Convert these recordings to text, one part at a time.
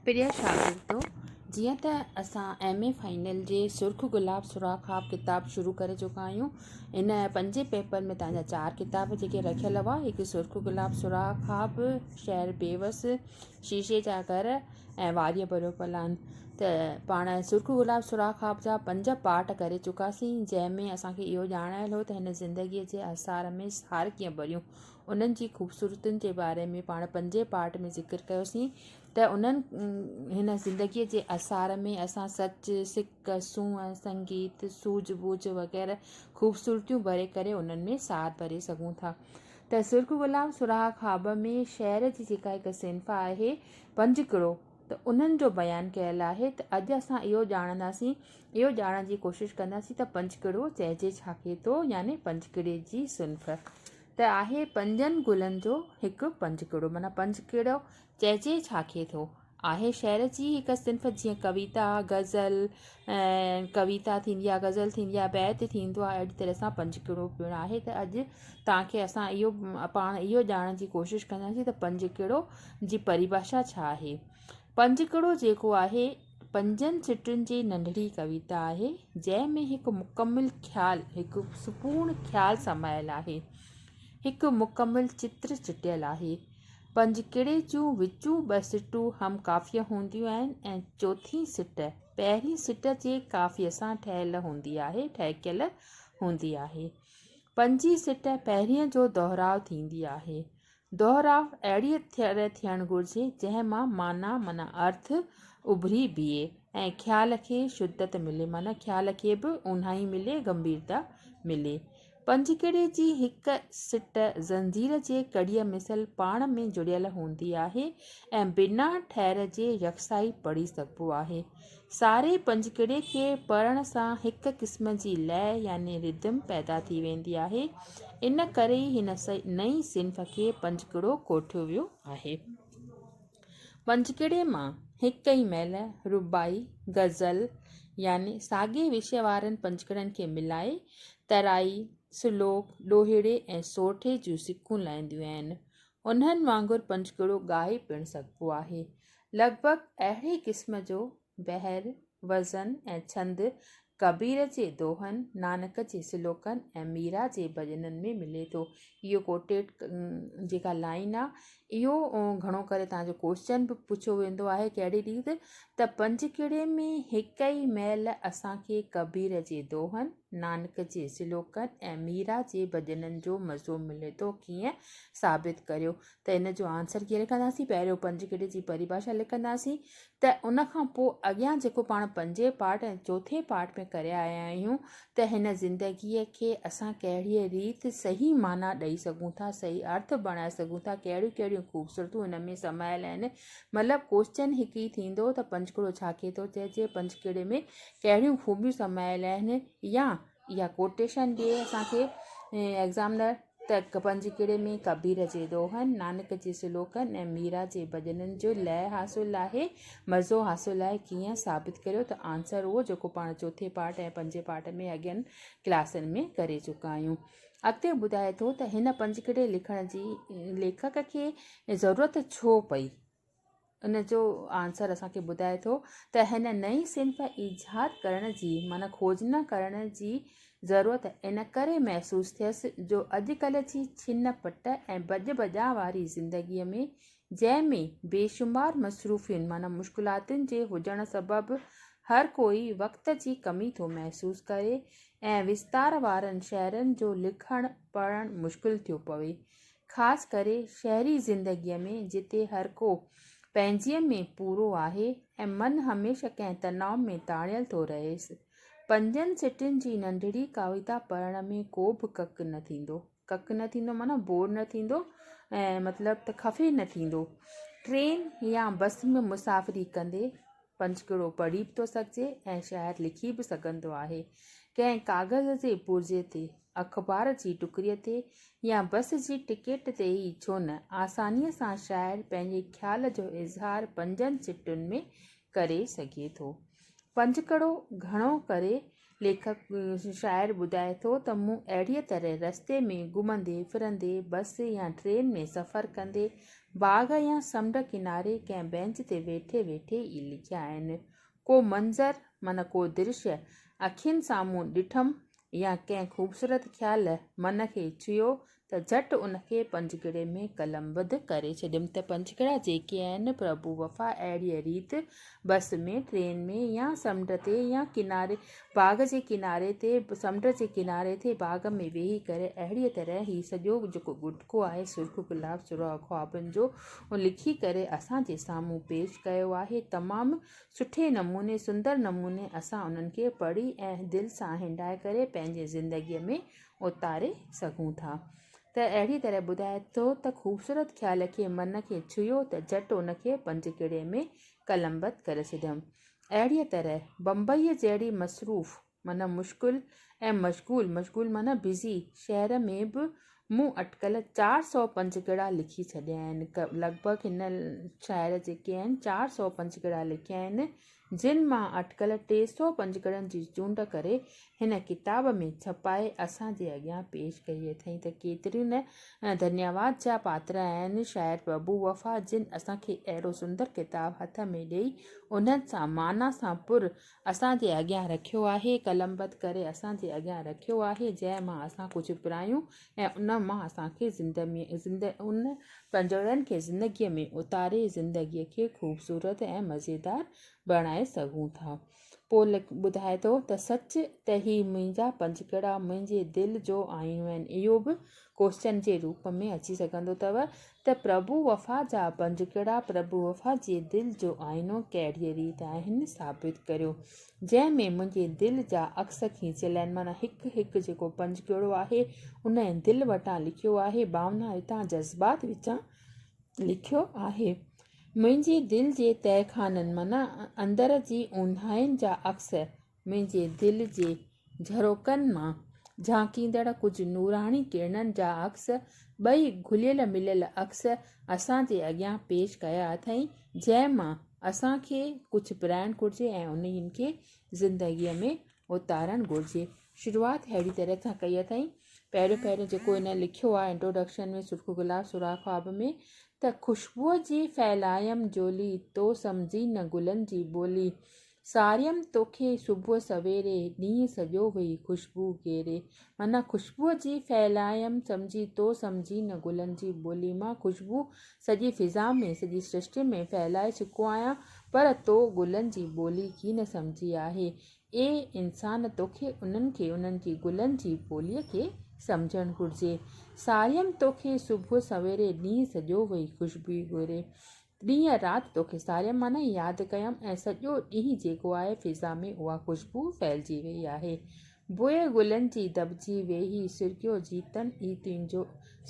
پريا شاگردو! جيئن ته اسان ايم اي فائنل جي سرخ گلاب سوراخ خواب ڪتاب شروع ڪري چڪا آهيون. ان پنجين پيپر ۾ توهان جا چار ڪتاب جيڪي رکيل هئا، هڪ سرخ گلاب سوراخ خواب، شهر بيوس، شيشي جا گهر ۽ واريء ڀريو پلان. ته پاڻ سرخ گلاب سوراخ خواب جا پنج پارٽ ڪري چڪاسين، جنهن ۾ اسان کي اهو ڄاڻايل هو ته هن زندگيء جي احصار ۾ سار ڪيئن ڀريون. انهن جي خوبصورتين جي باري ۾ پاڻ پنجين پارٽ ۾ ذڪر ڪيوسين ته انهن هن زندگيء جي اثار ۾ اسان سچ، سڪ، سونهن، سنگيت، سوجهه ٻوجهه وغيره خوبصورتيون ڀري ڪري انهن ۾ سار ڀري سگهون ٿا ته سرخ غلام سرها خواب ۾ شعر جي جيڪا هڪ صنف آهي پنجڪڙو ته انهن جو بيان ڪيل آهي ته اڄ اسان اهو ڄاڻنداسين اهو ڄاڻڻ جي ڪوشش ڪنداسين ته پنجڪڙو چئجي ڇا کي ٿو يعني پنجڪڙي جي صنف ته آهي پنجن گلن جو هڪ پنجڪڙو معنيٰ پنجڪڙو چئجي ڇا کي ٿو. آهي شعر جي هڪ صنف جيئن ڪويتا، غزل ۽ ڪويتا ٿيندي آهي، غزل ٿيندي آهي، بيت ٿيندو آهي، اهڙي طرح سان پنجڪڙو پڻ آهي ته اڄ توهان کي اسان اهو پاڻ اهو ڄاڻڻ جي ڪوشش ڪنداسين ته پنجڪڙو جي پريڀاشا ڇا آهي. پنجڪڙو جيڪو آهي پنجن سٽن جي ننڍڙي ڪويتا آهي، جنهن ۾ هڪ مڪمل خيال، هڪ سپورڻ خيال سمايل آهي. هڪ مڪمل چتر چٽيل آهي. پنجڪڙي جون وچون ٻه سٽون هم قافيه هونديون آهن ۽ چوٿين سٽ، پهرين سٽ جي قافيه سان ٺهيل هوندي آهي، ٺهڪيل هوندي آهي. پنجين سٽ پهرينء جو دهراء ٿيندي آهي. دوهراء اهڙيء طرح ٿيڻ گهرجي، جنهن مان معنيٰ معنيٰ ارٿ اڀري بيهي ۽ خيال کي شدت ملي، معنيٰ خيال کي به اونهائي ملي، گنڀيرتا ملي. پنجڪڙي جي هڪ سٽ زنجير جي ڪڙيء مثل پاڻ ۾ جڙيل هوندي آهي ۽ بنا ٺهر جي يڪساهي پڙهي سگهبو آهي. ساري پنجڪڙي کي پڙهڻ سان هڪ قسم جي لئه يعني Rhythm پيدا ٿي ويندي آهي. ان ڪري ئي هن نئين صنف کي پنجڪڙو ڪوٺيو ويو آهي. پنجڪڙي مان هڪ ئي مهل رباعي، غزل يعني ساڳئي وشي وارن پنجڪڙن کي ملائي ترائي، سلوڪ، ڏوهيڙي ۽ سورٺي جون سڪون لهنديون آهن. انهن وانگر پنجگهڙو ڳائي پڻ سگهبو آهي. لڳ ڀڳ اهڙي قسم جو بحر، وزن ۽ ڇند ڪبير جي دوهن، نانڪ جي سلوڪن ۽ ميرا جي ڀڄنن ۾ ملي ٿو. اهو ڪوٽيٽ جيڪا لائين آ، اهو گهڻو ڪري توهان جو ڪوئسچن به پڇيو ويندو آهي ڪهڙي ريت ته پنجگهڙي ۾ هڪ ئي مهل اسان کي ڪبير جي دوهن، نانڪ جي سلوڪن ۽ ميرا جي ڀڄنن جو مزو ملي ٿو ڪيئن ثابت ڪريو ته ان جو آنسر ڪيئن لکنداسين پهريون پنج ڪڙي جي پريڀاشا لکنداسين ته ان کان پوء اڳيان جيڪو پاڻ پنجين پارٽ ۽ چوٿين پارٽ ۾ ڪري آيا آهيون ته هن زندگيء کي اسان ڪهڙيء ريت صحيح معنيٰ ڏئي سگهون ٿا صحيح ارٿ بڻائي سگهون ٿا ڪهڙيون ڪهڙيون خوبصورتون ان ۾ سمايل آهن مطلب ڪوشچن هڪ ئي ٿيندو ته پنجڪڙو ڇا کي ٿو چئجي پنجڪڙي ۾ ڪهڙيون خوبيون سمايل آهن يا اها ڪوٽيشن ڏي اسان کي ايگزامنر ته پنجڪڙي ۾ ڪبير جي دوهن، نانڪ جي سلوڪن ۽ ميرا جي ڀڄنن جو لئه حاصل آهي، مزو حاصل آهي ڪيئن؟ ثابت ڪريو ته آنسر اهو جيڪو پاڻ چوٿين پارٽ ۽ پنجين پارٽ ۾ اڳين ڪلاسن ۾ ڪري چڪا آهيون. اڳتي ٻڌائي ٿو ته هن پنجڪڙي لکڻ جي ليکڪ کي ضرورت ڇو پئي؟ ان جو آنسر اسان کي ٻڌائي ٿو ته هن نئين صنف ايجاد ڪرڻ جي معنيٰ کوج نه ڪرڻ جي ضرورت ان ڪري محسوس ٿيس جو اڄڪلهه جي ڇن پٽ ۽ ڀڄ ڀڄان واري زندگيء ۾ جنهن ۾ بيشمار مصروفيون معنيٰ مشڪلاتن جي هجڻ سبب هر ڪوئي وقت جي ڪمي ٿو محسوس ڪري ۽ وستار وارن شهرن جو لکڻ پڙهڻ مشڪل ٿيو پوي خاص ڪري شهري زندگيء ۾ جتي هرڪو پنهنجيء ۾ پورو آهي ۽ من هميشه ڪنهن تناء ۾ تاڻيل ٿو رهيس. پنجن سٽن جي ننڍڙي ڪاويتا پڙهڻ ۾ ڪو به ڪڪ نه ٿيندو. ڪڪ نه ٿيندو معنيٰ بور نه ٿيندو ۽ مطلب ته خفي نه ٿيندو. ٽرين يا بس ۾ مسافري ڪندي پنجڪڙو پڙهي به ٿو سگهجي ۽ شاعر لکي به سگهندو آهي. ڪنهن ڪاغذ جي پرزي تي اخبار جي ٽڪري تي يا بس جي ٽڪيٽ تي ئي ڇو نه، آسانيء سان شاعر پنهنجي خيال جو اظهار پنجن سٽن ۾ ڪري سگهي ٿو. پنجڪڙو گهڻو ڪري ليکڪ، شاعر، ٻڌائي ٿو ته مون اهڙيء طرح رستي ۾ گهمندي ڦرندي، بس يا ٽرين ۾ سفر ڪندي، باغ يا سمنڊ ڪناري ڪنهن بئنچ تي ويٺي ويٺي ئي لکيا آهن. ڪو منظر من ڪو درشي اکين سامهون ڏٺم يا ڪنهن خوبصورت خيال من کي ڇهيو ته جهٽ ان کي پنجڪڙي ۾ قلمبد ڪري ڇڏيم ته پنجڪڙا جيڪي آهن پرڀو وفا اهڙيء ريت بس ۾ ٽرين ۾ يا سمنڊ تي يا ڪناري باغ جي ڪناري تي سمنڊ جي ڪناري تي باغ ۾ ويهي ڪري اهڙيء طرح هي سڄو جيڪو ڳوٺڪو آهي سرخ گلاب سرها خوابن جو اهو لکي ڪري اسان جي سامهون پيش ڪيو آهي تمام سٺي نموني سندر نموني اسان انهن کي پڙهي ۽ دل سان هنڊائي ڪري پنهنجي زندگي ۾ اوتاري سگهون ٿا ته اهڙي طرح ٻڌائي ٿو ته خوبصورت خيال کي من کي ڇهيو ته جهٽ ان کي پنج ڪڙي ۾ قلمبد ڪري ڇڏيم اهڙيء طرح بمبئيء جهڙي مصروف معنيٰ مشغول ۽ مشغول، مشغول معنيٰ بزي، شهر ۾ به مون اٽڪل چار سؤ پنجگڙا لکي ڇڏيا آهن. لڳ ڀڳ هن شاعر جيڪي آهن چار سؤ پنجگڙا لکيا آهن، جن مان اٽڪل ٽي سؤ پنجگڙن جي چونڊ ڪري هن ڪتاب ۾ ڇپائي اسان جي اڳيان پيش ڪئي اٿئين ته ڪيتريون نه ڌنيواد جا پاتر آهن شاعر پرڀو وفا جن اسان کي اهڙو سندر ڪتاب هٿ ۾ ڏئي انهن سان معنيٰ سان پر اسان جي اڳيان رکيو آهي قلمبد ڪري اسان جي اڳيان رکيو آهي جنهن مان اسان ڪجهه پرايون ۽ ان مان اسان کي زندهه ان پنجوڙن کي زندگي ۾ اتاري زندگي کي خوبصورت ۽ مزيدار بڻائي سگهون ٿا پوء ٻڌائي ٿو ته سچ ته هي منهنجا پنجڪڙا منهنجي دل جو آئينو آهن. اهو به ڪوشچن جي روپ ۾ اچي سگهندو اٿو ته پرڀو وفا جا پنجڪڙا پرڀو وفا جي دل جو آئينو ڪهڙيء ريت آهن ثابت ڪريو. جنهن ۾ منهنجي دل جا عڪس کيچيل آهن معنيٰ هڪ هڪ جيڪو پنجڪڙو آهي انهيء دل وٽان لکيو آهي. ڀاونا هتان جذبات وچان لکيو آهي، منهنجي دل جي تهخانن معنيٰ اندر جي اونداهين جا عڪس، منهنجي دل جي جهروڪن مان جهانڪيندڙ ڪجهه نوراڻي ڪرڻن جا عڪس، ٻئي گهليل مليل عڪس اسان جي اڳيان پيش ڪيا اٿئين، جنهن مان اسان کي ڪجهه پرائڻ گهرجي ۽ انهن کي زندگيء ۾ اوتارڻ گهرجي. شروعات ههڙي طرح سان ڪئي اٿائين، پهريون پهريون جيڪو هن لکيو آهي Introduction ۾ سرخ گلاب سوراخ خواب ۾ ته خوشبوء جي ڦهلايم جولي، تو سمجهين نه گلن جي ٻولي، ساريم توکي صبح سويري، ڏينهن سڄو ويهي خوشبو گهيري. معنيٰ خوشبوء جي ڦهلايم سمجهي تو سمجهي نه گلن جي ٻولي مان خوشبو سڄي فضا ۾ سڄي سرشٽي ۾ ڦهلائي چڪو آهيان پر تو گلن جي ٻولي ڪي نه سمجهي آهي اي انسان توکي انهن کي انهن جي گلن جي ٻولي کي سمجهڻ گهرجي ساريم توکي صبح سويري ڏينهن سڄو ويهي خوشبوئي ڳوري ڏينهن رات توکي ساريم معنيٰ ياد ڪيم ۽ سڄو ڏينهن جيڪو آهي فضا ۾ اها خوشبو ڦهلجي وئي آهي بوئي گلن جي دٻجي ويهي سرڪيو جيتن ئي تنهنجو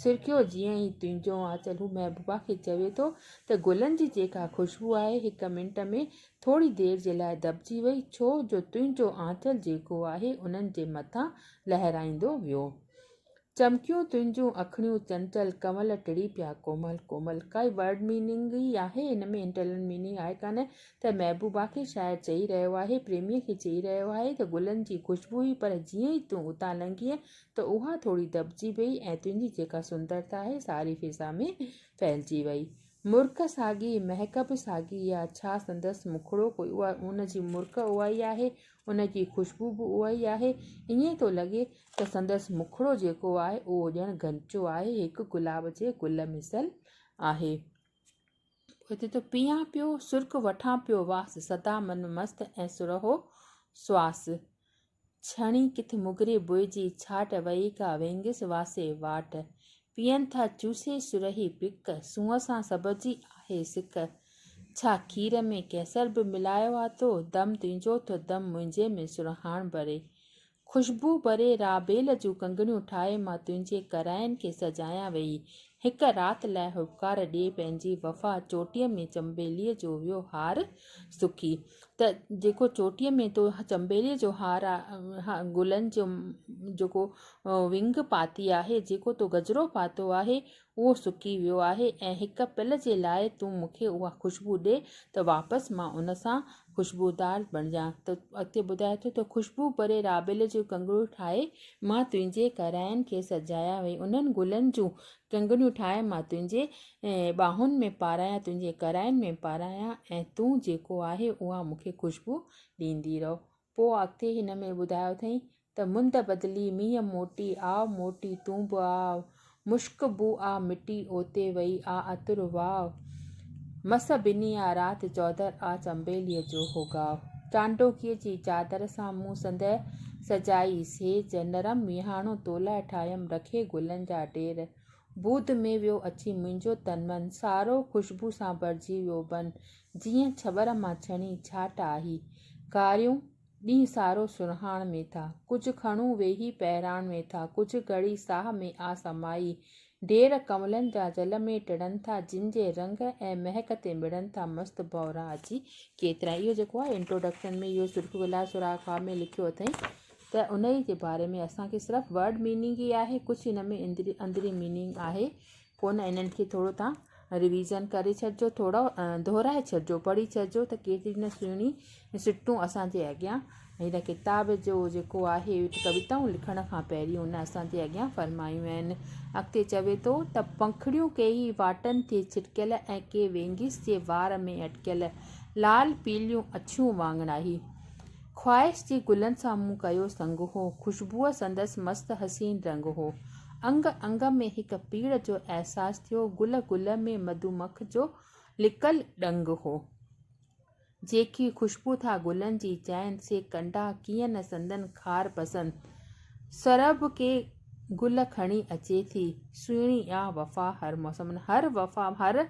سرڪيو جيئن ئي تنهنجو آنچل هو محبوبا کي چوي ٿو ته گلن جي جيڪا خوشبو آهي هڪ منٽ ۾ ٿوري دير جي لاء دٻجي وئي ڇو جو تنهنجو آنچل جيڪو آهي انهن جي مٿان لهرائيندو ويو. چمڪيون تنهنجون اکڙيون چنچل ڪنول ٽڙي پيا ڪومل ڪومل ڪائي ورڊ ميننگ ئي آهي ان ۾ انٽرنل ميننگ آهي ڪانه ته محبوبا کي شاعر چئي رهيو آهي پريميء کي چئي رهيو آهي ته گلن جي خوشبو هئي پر جيئن ئي تون اتان لنگهينء ته اها ٿوري دٻجي ويئي ۽ تنهنجي جيڪا سندرتا آهي ساري فضا ۾ ڦهلجي ويئي مرڪ ساڳي مهڪ به ساڳي آ ڇا سندس مکڙو ڪوئي اها ان جي مرڪ اهائي آهي ان جي خوشبو به اها ئي آهي. ائين ٿو لڳي ته سندس مکڙو جيڪو آهي اهو ڄڻ غنچو آهي، هڪ گلاب جي گل مثل آهي. پوء چئي ٿو، پيئان پيو سرڪ وٺان پيو واس، سدا من مست ۽ سرهو سواس. ڇڻي ڪٿ مگري بوء جي ڇاٽ، وئي ڪا وينگس واسي واٽ. پيئن ٿا چوسي سرهي پڪ، سونهن سان سڀ جي آهي سڪ. ڇا کير ۾ ڪيسر به ملايو آتو، دم تنهنجو ٿو دم منهنجي ۾ سرهاڻ ڀري. خوشبو ڀري رابيل جون ڪنگڻيون ٺاهي مان تنهنجي ڪرائين کي سجايان ويئي. هڪ رات لاء هٻڪار ڏي پنهنجي وفا چوٽيء ۾ چنبيليء جو ويو هار سڪي. ته جيڪو چوٽيء ۾ تو چنبيليء جو هار آهي گلن جو جيڪو وينگ پاتي آهي جيڪو تو گجرو پاتو آهي اهو سڪي ويو آهي ۽ هڪ پل جي لاء تون مون کي اها خوشبو ڏي ته واپس مان ان سان خوشبودار بڻجان ته اڳتي ٻڌائي ٿو ته خوشبو ڀري رابيل جون ڪنگڻيون ٺاهي مان تنهنجي ڪرائن کي سجايان وئي انهن گلن جون ڪنگڻيون ٺاهي مان تنهنجي ۽ ٻانهن ۾ پارايان تنهنجي ڪرائن ۾ پارايان ۽ تون جيڪو آهي اها مون کي خوشبو ڏيندي رهو. پوء اڳتي هن ۾ ٻڌايو اٿئين ته مند بدلي، مينهن موٽي، آء موٽي، تون به آء، مشڪ بوء آء مٽي، اوتي وئي آء عطر واء، مس ڀني آء رات چوڌر آء چنبيليء جو هو ڳاء. چانڊوڪيء جي چادر سان مون سندهه سجائي، سيج نرم مينهاڻو تولاء ٺاهيم، رکي گلن جا ڍير، بود ۾ ويو اچي منهنجو تن من. سارو خوشبو سان ڀرجي ويو بن. جيئن ڇٻر مان ڇڻي ڇاٽ آهي. ڪاريون ڏينهن سارو سرهاڻ ۾ ٿا. ڪجهه کڻون ويهي پهراڻ ۾ ٿا. ڪجهه گهڙي ساهه ۾ آ سمائي. ڍير ڪنولن جا جل ۾ ٽڙن ٿا. جن جي رنگ ۽ مهڪ تي مڙن ٿا مست ڀؤرا اچي ڪيترا. اهو جيڪو آهي انٽروڊڪشن ۾ اهو سرخ گلاب سوراخ خواب ۾ لکيو اٿئين ته انهي جي باري ۾ اسان کي صرف ورڊ ميننگ ئي آهي ڪجهه هن ۾ اندري اندري ميننگ آهي ڪونه انهن کي ٿورو تان ريويزن ڪري ڇڏجو ٿورو دهرائي ڇڏجو پڙهي ڇڏجو ته ڪيتري نه سهڻي سٽون اسانجي اڳيان هن ڪتاب جو جيڪو آهي ڪويتائون لکڻ کان پهرين هن اسانجي اڳيان فرمايون آهن اڳتي چوي ٿو ته پنکڙيون ڪي هي واٽن تي ڇرڪيل ۽ ڪي وينگيس جي وار ۾ اٽڪيل لال پيليون اڇيون واڱڻائي خواهش جي گلن سان مون ڪيو سنگ هو، خوشبوء سندس مست حسين رنگ هو. انگ انگ ۾ هڪ پيڙهه جو احساس ٿيو، گل گل ۾ مڌومک جو لڪل ڏنگ هو. جيڪي خوشبو ٿا گلن جي چائين، سي ڪنڊا ڪيئن نه سندن خار پسند. سرهه به ڪي گل کڻي اچي ٿي سهڻي آ وفا هر موسم ۾ هر وفا هر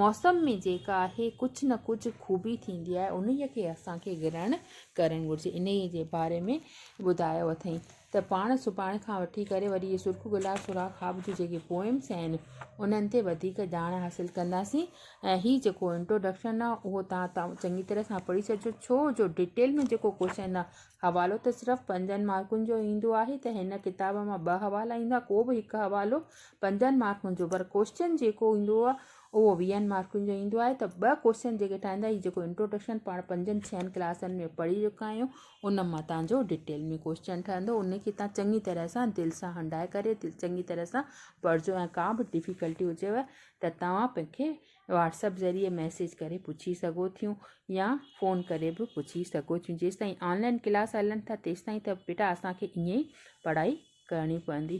موسم ۾ جيڪا آهي ڪجهه نه ڪجهه خوبي ٿيندي آهي ان ۾ کي اسانکي گرهڻ ڪرڻ گهرجي ان ئي جي باري ۾ ٻڌايو اٿئين ته پاڻ سڀاڻ کان وٺي ڪري وري اهي سرخ گلاب سوراخ خواب جون جيڪي پوئمس آهن انهن تي وڌيڪ ڄاڻ حاصل ڪنداسين ۽ هي جيڪو انٽروڊڪشن آهي اهو تان تان چڱي طرح سان پڙهي ڇڏجو ڇو جو ڊيٽيل ۾ جيڪو ڪوشچن آهي حوالو ته صرف پنجن مارڪن جو ايندو آهي ته هن ڪتاب مان ٻه حوالا ايندا ڪو به هڪ حوالو پنجن مارڪن جو پر ڪوشچن جيڪو ايندو آهي اهو ويهن مارڪن جو ايندو آهي ته ٻه ڪوشچن جيڪي ٺاهيندا هي جيڪو انٽروڊڪشن پاڻ پنجن ڇهن ڪلاسن ۾ پڙهي چڪا آهيون ان مان تان جو ڊيٽيل ۾ ڪوشچن ٺهندو ان کي تان چڱي طرح سان دل سان هنڊائي ڪري چڱي طرح سان پڙهجو ۽ ڪا به ڊفيڪلٽي هجيو ته توهان پنکي واٽسپ ذريعي ميسيج ڪري پڇي سگهو ٿيون يا فون ڪري به پڇي سگهو ٿيون جيسي تائين آنلائن ڪلاس هلن ٿا تيسي تائين ته بيٽا اسانکي ائين پڙهائي ڪرڻي پوندي